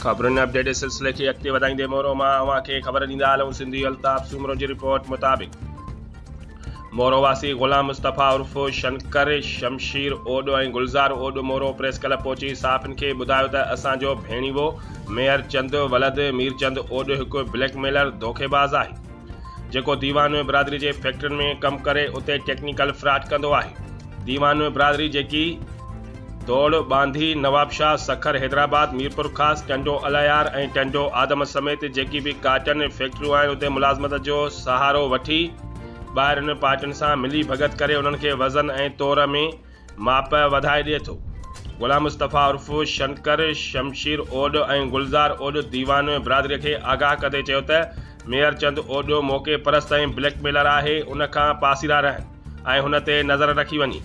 خبرن اپڊيٽ جي سلسلي کي اڳتي وڌائيندي مورو مان اوهان کي خبر ڏيندا هلون سنڌي الطاف سومرو جي رپورٽ مطابق مورو واسي غلام مصطفيٰ عرف شنڪر شمشير اوڏ ۽ گلزار اوڏ مورو پريس ڪلب پهچي صحافين کي ٻڌايو ته اسان جو ڀيڻيوو ميهر چند ولد مير چند اوڏ هڪ بليڪ ميلر ڌوکي باز آهي جيڪو ديوان برادري جي فيڪٽرين ۾ ڪم ڪري اتي ٽيڪنيڪل فراڊ ڪندو آهي ديوان برادري جيڪي ڌوڙ، ٻانڌي، نوابشاهه، سکر، حيدرآباد، ميرپورخاص، ٽنڊو الهيار ۽ ٽنڊو آدم سميت جيڪي به ڪاٽن فيڪٽريون آهن اتي ملازمت جو سهارو وٺي ٻاهرين پارٽين سان ملي ڀڳت ڪري انهن کي وزن ۽ تور ۾ ماپ وڌائي ڏئي ٿو. غلام مصطفيٰ عرف شنڪر، شمشير اوڏ ۽ گلزار اوڏ ديوان برادري کي آگاهه ڪندي چيو ته ميهرچند اوڏ موقعي پرست ۽ بليڪ ميلر آهي ان کان پاسيرا رهن. ۽ هن تي نظر رکي وڃي.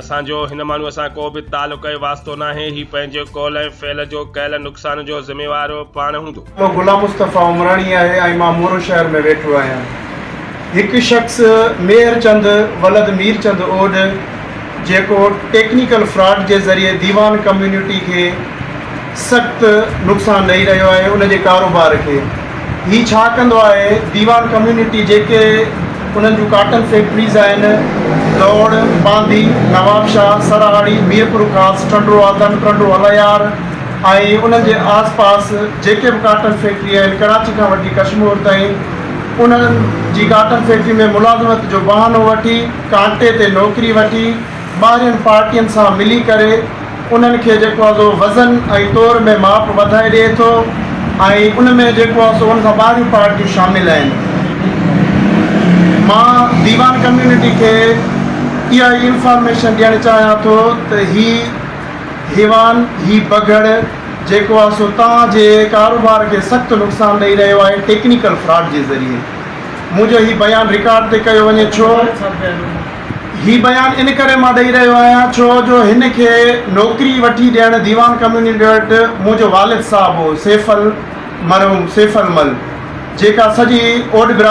اسان جو هن ماڻهوء سان ڪو به تعلق ۽ واسطو ناهي، هي پنهنجي قول ۽ فعل جو ڪيل نقصان جو ذميوار پاڻ هوندو. مان غلام مصطفيٰ عمراڻي آهي ۽ مان مورو شهر ۾ ويٺو آهيان. هڪ شخص ميهر چند ولد مير چند اوڏ، جيڪو ٽيڪنيڪل فراڊ جي ذريعي ديوان ڪميونٽي کي سخت نقصان ڏئي رهيو آهي ان جي ڪاروبار کي هي ڇا ڪندو آهي ديوان ڪميونٽي جيڪي انهن جون ڪاٽن فيڪٽريز آهن دوڙ باندي نوابشاهه سرهاڙي ميرپورخاص ٽنڊوآدم ٽنڊو الهيار ۽ انهن جي آس پاس جيڪي به ڪاٽن فيڪٽري آهن ڪراچي کان وٺي ڪشمور تائين انهن جي ڪاٽن فيڪٽري ۾ ملازمت جو بهانو وٺي ڪانٽي تي نوڪري وٺي ٻاهرين پارٽين سان ملي ڪري انهن کي جيڪو آهي سو وزن ۽ تور ۾ ماپ وڌائي ڏئي ٿو ۽ ان ۾ جيڪو آهي سو ان کان ٻاهريون پارٽيون شامل آهن مان ديوان ڪميونٽي کي اها ئي انفارميشن ڏيڻ چاهيان ٿو ته هي هيوان هي بگهڙ جيڪو آهي سو توهان جي ڪاروبار کي سخت نقصان ڏئي رهيو آهي ٽيڪنيڪل فراڊ جي ذريعي منهنجو هي بيان رڪارڊ تي ڪيو وڃي ڇو؟ هي بيان ان ڪري مان ڏئي رهيو آهيان ڇو جو هن کي نوڪري وٺي ڏيڻ ديوان ڪميونٽي وٽ منهنجو والد صاحب هو سيف المرحوم سيف المل جيڪا سڄي اوڏ برادري